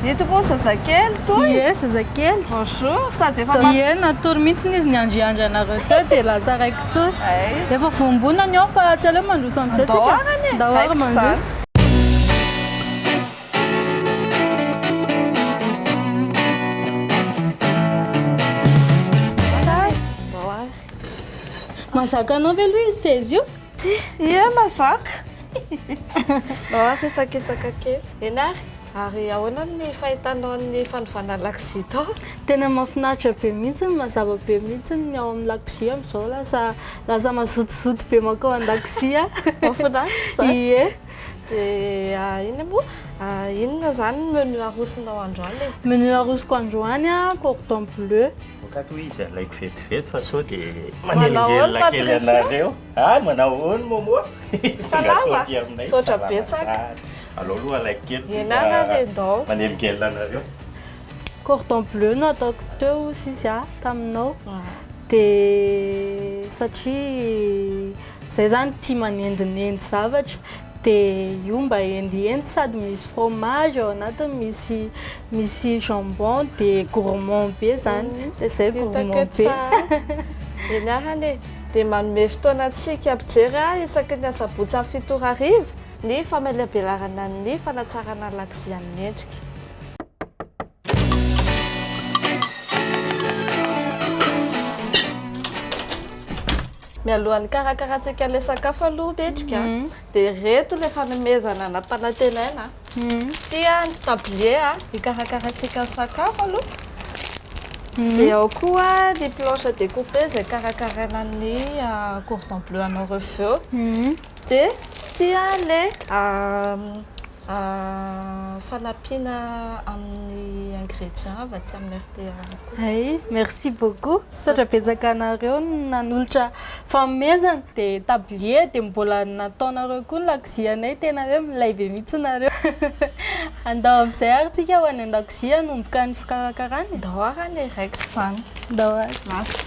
Ito moa zazakely toy? Ie zazakely. Bonjour, sady efa mat. Ie natory mihitsy izy niandriandry anareo teo dia lasa raiky toa. Efa voambona ny ao fa tsy aleo mandroso amin'izay tsika. Ndao ary anie. Ndao ary mandroso. Tsara e. Ndao ary. Mahazaka anao ve aloha io seza io? Ty, Ieh mazaka! Mahazo isakisaka kely. Eny ary, ary ahoana ny fahitanao an'ny fanovana lakozia tao? Tena mahafinaritra be mihitsy, mazava be mihitsy ny ao amin'ny lakozia amin'izao, lasa lasa mazotozoto be mankao an-dakozia. Mahafinaritra izany. Ie. Dia inona moa, inona izany ny menu arosonao androany e? Menu arosoko androany, cordon bleu. Vokany hoe izy alaiko vetivety fa sao dia manelingelina kely anareo. Ah, manao ahoana Momo? Tonga soa aty aminay. Misaotra betsaka. Alao aloha alaiko kely ity fa manelingelina anareo. Cordon bleu no ataoko teo sisa taminao dia satria. Zay zany tia manendinendy zavatra de io mba hendihendy sady misy fromage ao anatiny misy misy jambon de gourmand be zany de zay gourmand be. Ianarana e! Dia manome fotoana antsika hampijery ahy isaky ny asabotsy amin'ny fito ora hariva ny famelihabelarana ny fanatsarana ny lakozia ny mendrika. Mialohan'ny hikarakarantsika ilay sakafo aloha Betrika mhm. dia ireto ilay fanomezana nampanantenaina. Mhm. Tia ny tablier hikarakarantsika ny sakafo aloha. Mhm. Dia ao koa ny planche découpée izay karakaraina ny ah, cordon bleu anao rehefa eo. Dia tia ilay ah, Fanampiana amin'ny ingrédients avy aty amin'ny RTR koa. Hay, merci beaucoup. Misaotra betsaka anareo nanolotra fanomezana. Dia tablier dia mbola nataonareo koa ny lakozianay, tena hoe milay be mihitsy nareo. Andao amin'izay ary tsika ho any an-dakozia hanomboka ny fikarakarana e. Ndao ary anie raikitra izany. Ndao ary. Lasa.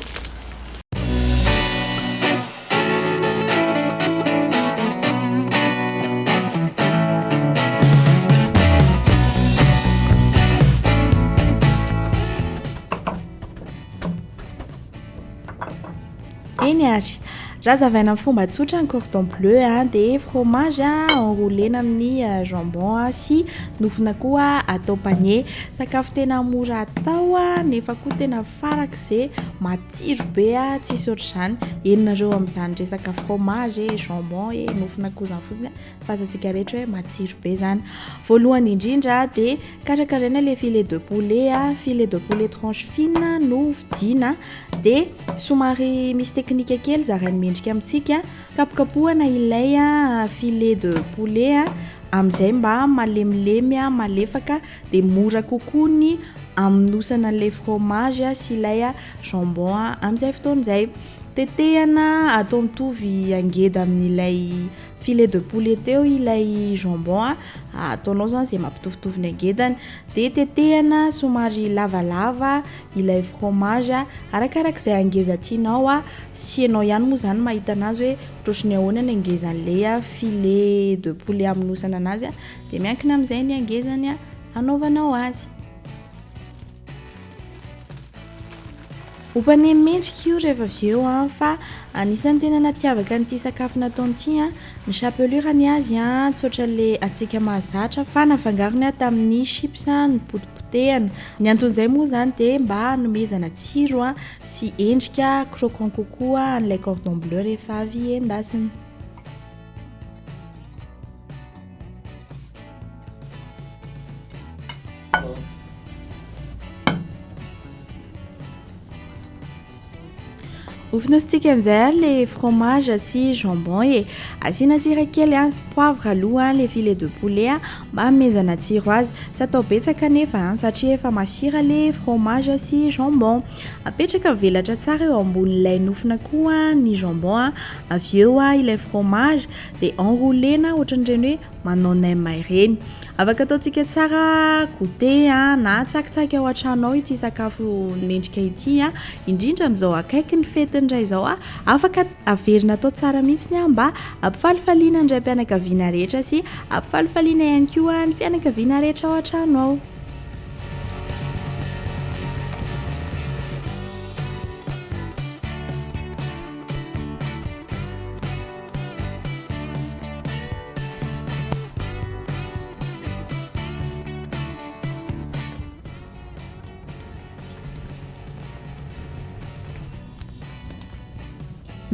Eny ary, raha zavaina amin'ny fomba tsotra ny cordon bleu dia fromage enroulena amin'ny euh, jambon sy nofona koa atao panier. Sakafo tena mora atao nefa koa tena farak'izay Tsiro be a! Tsisy ohatr'izany. Eny nareo amin'izany resaka fromage e, jambon e, nofo nakozany fotsiny a, fa azantsika rehetra hoe matsiro be izany. Voalohany indrindra dia karakaraina ilay filet de poulet a, filet de poulet tranche fine no vidiana dia somary misy teknika kely zarain'ny mendrika amintsika, kapokapohana ilay filet de poulet a, amin'izay mba malemilemy a, malefaka. dia mora kokoa ny amonosana an'ilay fromage sy ilay jambon amin'izay fotoana izay. Tetehana atao mitovy angeda amin'ilay filet de poulet teo ilay jambon, ataonao izany izay mampitovitovy ny angedany, dia tetehana somary lavalava ilay fromage arakaraka izay angeza tianao sy ianao ihany moa izany mahita an'azy hoe ohatrohatry ny ahoana ny angezan'ilay filet de poulet amonosana an'azy. Dia miankina amin'izay ny hangezany hanaovanao azy. Ompane mendrika io rehefa avy eo an fa anisan'ny tena nampiavaka an'ity sakafo nataony ity an ny chapelure ny azy an tsy ohatran'le antsika mahazatra fa nafangarony aho tamin'ny chips nopotipotehana. Ny anton'izay moa izany dia mba hanomezana tsiro an sy endrika croquant kokoa an'ilay cordon bleu rehefa avy endasina. Hofonosintsika amin'izay ary le fromage sy jambon e. Asiana sira kely an, sy poivre aloha an, le filet de poulet an, mba hamezana tsiro azy. Tsy atao betsaka anefa an, satria efa masira le fromage sy jambon. Apetraka mivelatra tsara eo ambonin'ilay nofona koa ny jambon an, avy eo ilay fromage, dia enroulena ohatran'ireny hoe manao nem ireny. Afaka ataontsika tsara goûter na tsakitsaky ao an-trano ao ity sakafo mendrika ity, indrindra amin'izao akaiky ny fety ny iray izao. Afaka averina atao tsara mihitsy ny mba hampifalifaliana ny raim-pianakaviana rehetra sy hampifalifaliana ihany koa ny fianakaviana rehetra ao an-trano ao.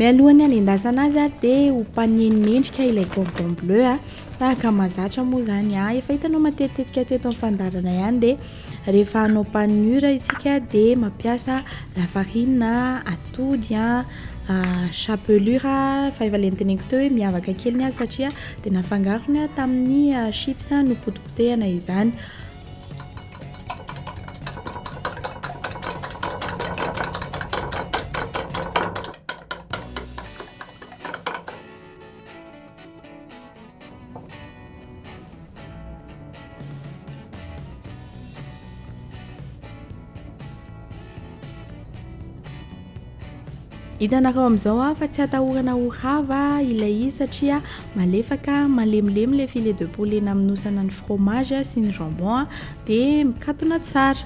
Mialoha ny hanendasana azy ary dia hopanihiny mendrika ilay cordon bleu a. Tahaka mahazatra moa izany a. Efa hitanao matetitetika teto amin'ny fandaharana ihany dia rehefa hanao panure isika dia mampiasa lafarina, atody, chapelure fa efa le noteneniko teo hoe miavaka kely ny azy satria dia nafangarony tamin'ny chips nopotipotehina izany. Hitanareo amin'izao aho fa tsy atahorana ho rava ilay izy satria malefaka, malemilemy ilay filet de poulet namonosana ny fromage sy ny jambon dia mikatona tsara.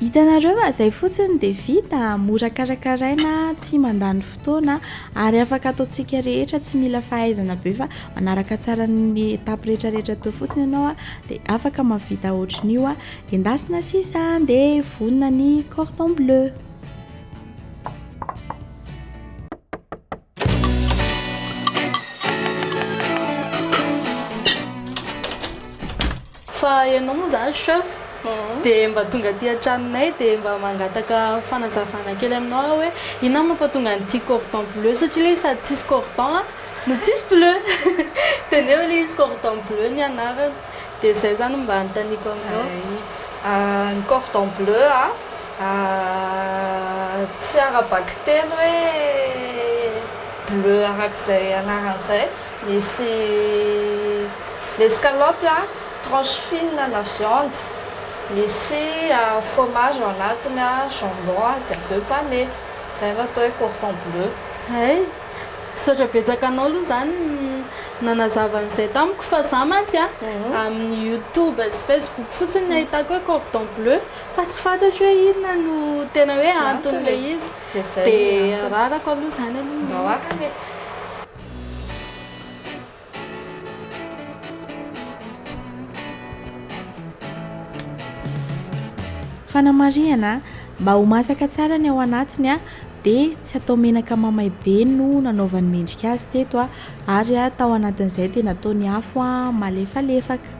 Hitanareo fa izay fotsiny dia vita, mora karakaraina, tsy mandany fotoana ary afaka ataontsika rehetra, tsy mila fahaizana be fa manaraka tsara ny etapes rehetra rehetra teo fotsiny ianao dia afaka mahavita ohatrin'io, endasina sisa dia vonona ny cordon bleu. Fa ianao moa izany chef mhm. dia mba tonga aty an-tranonay dia mba mangataka fanazavana kely aminao aho hoe inona mampatonga an'ity cordon bleu satria ilay izy sady tsisy cordon a no tsisy bleu dia nefa ilay izy cordon bleu ny anarany dia izay izany mba anontaniako aminao ah, ny cordon bleu a Ahh tsy ara-baky teny hoe bleu arak'izay anarany izay, misy l'escalope a, tranche fine na viande, misy fromage ao anatiny a, jambon a, dia avy eo pane, izay no atao hoe cordon bleu. Hay, misaotra betsaka anao aloha izany nanazava an'izay tamiko fa za mantsy amin'ny youtube sy facebook fotsiny no nahitako hoe cordon bleu. fa tsy fantatro hoe inona no tena hoe anton'ilay izy dia ararako aloha izany aloha mba hoaka ange fanamarihana mba ho masaka tsara ny ao anatiny dia tsy atao menaka mamay be no nanaovany mendrika azy teto ary tao anatin'izay dia nataony afo malefalefaka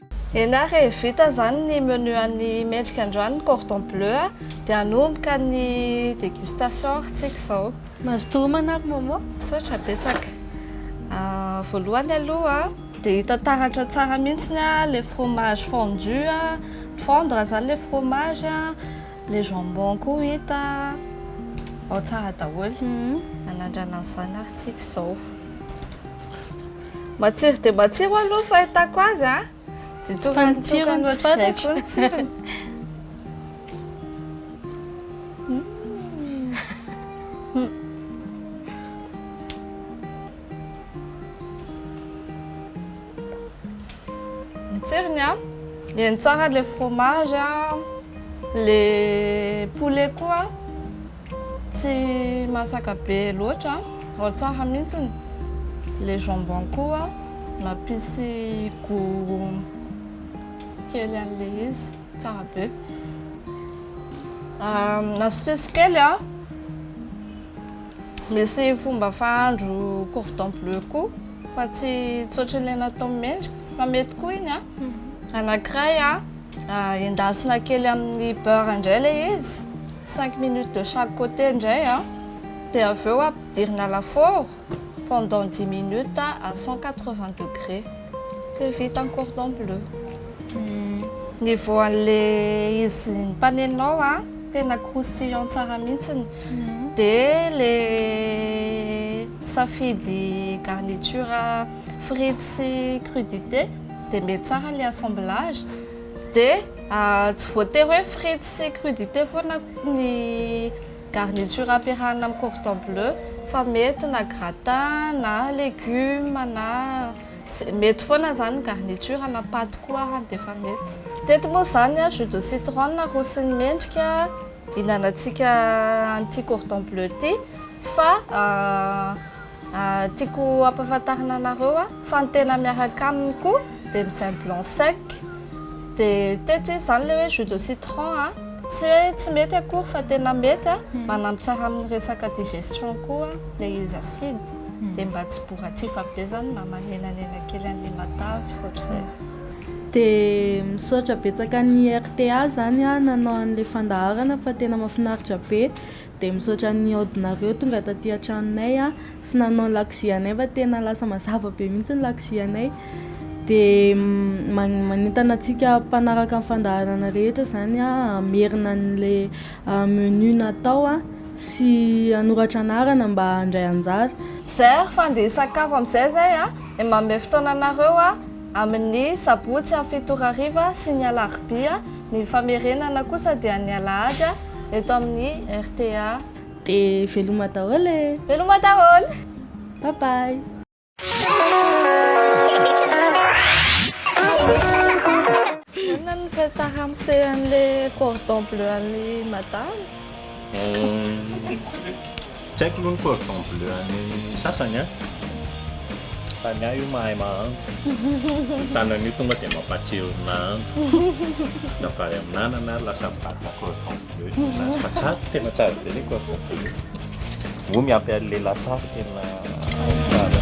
Ianara e, vita zany ny menu an'ny mendrika androany ny cordon bleu a, de hanomboka ny dégustation ary tsika zao. Mazotoa homana ry Momo. Misaotra betsaka. Voalohany aloha dia hita taratra tsara mihitsy ny le fromage fondu a, fondre zany le fromage a, le jambon koa hita ao tsara daholo. Hanandrana an'izany ary tsika zao. Matsiro dia matsiro aloha ny fahitako azy a. Dia tonga ny tsirony tsy fantatro. Ny tsirony. Ny tsirony a. Ny tsara le fromage a. Le poulet koa. Tsy masaka be loatra ao tsaha mintsiny le jambon koa mampisy gout kely anle izy tsara be astuce kely a misy fomba fahandro cordon bleu koa fa tsy tsy otranle natao mendrika fa mety koa iny a anakiray a. Endasina kely amin'ny beurre indray ilay izy, cinq minutes de chaque côté indray an, dia avy eo ampidirina lafaoro pendant dix minutes à cent quatre vingt degré, dia vita ny cordon bleu. Niveau an'ilay izy nompaneninao an, tena croustillant tsara mihitsy, dia ilay safidy garniture frites sy crudités. dia mety tsara le assemblage dia tsy voatery hoe frites sy crudités foana ny garniture ampiarahana amin'ny cordon bleu fa mety na gratin na legume na mety foana zany ny garniture na paty koa ary dia efa mety teto moa zany a jus de citron aroson'ny mendrika hinanantsika an'ity cordon bleu ity fa Tiako hampafantarina anareo fa ny tena miaraka aminy koa dia ny vin blanc sec dia teto izy izany ilay hoe jus de citron a, tsy hoe tsy mety akory fa tena mety a, manampy tsara amin'ny resaka digestion koa ilay izy acide dia mba tsy boratsifa be izany mba manenanena kely an'ilay matavy ohatr'izay. Dia misaotra betsaka ny rta zany nanao an'ilay fandaharana fa tena mafinaritra be Dia misaotra ny nihaodinareo tonga taty an-tranonay an, sy nanao ny lakozia anay fa tena lasa mazava be mihitsy ny lakozia anay, dia manentana antsika mpanaraka ny fandaharana rehetra izany an, hamerina an'ilay menu natao an, sy hanoratra anarana mba handray anjara. Zay ary fa andeha hisakafo amin'izay zay an, dia manome fotoana anareo an. Amin'ny sabotsy amin'ny fito ora hariva sy ny alarobia, ny famerenana kosa dia ny alahady eto amin'ny rta. Dia veloma daholo e! Veloma daholo! Bye bye! Inona no feta ramose an'ilay cordon bleu an'i madama? Tsy haiko aloha ny cordon bleu an'ny sasany an, fa ny ahy io mahay mahandro, io tanana io tonga dia mampahatsiaro ny nahandro, na vary amin'anana ary lasa mivadika cordon bleu ny azy, fa tsara, tena tsara be ilay cordon bleu, moa miampy an'ilay lasary tena ao tsara.